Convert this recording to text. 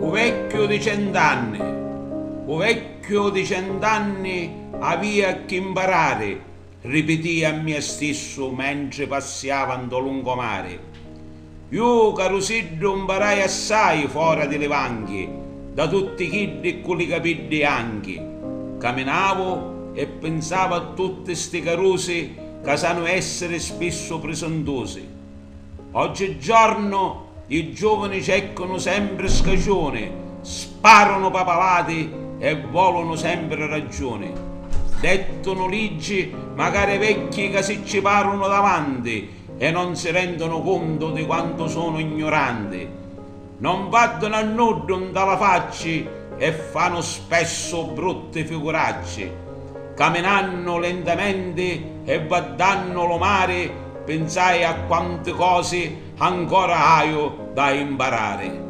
U vecchiu di cent'anni U vecchiu di cent'anni avia cchi 'mparari Ripitia a mia stissu mentri passiava nto lungomari. Ju, carusiddu, mparai assai fora di li vanghi da tutti chiddi ccu li capiddi janchi. Caminavu e pinsava a tutti sti carusi ca sanu essiri spissu prisuntusi. Oggi giorno i giovani cercanu sempri scaciuni, sparunu papalati e volunu sempri ragiuni. Dettunu liggi macari vecchi ca si ci parunu davanti e non si rendunu cuntu di quantu sunu gnuranti. non vaddunu a nuddu nta la facci e fanu spessu brutti figuracci, caminannu lentamenti e vaddannu lu mari pinsai a quanti cosi ancora haiu da imparari.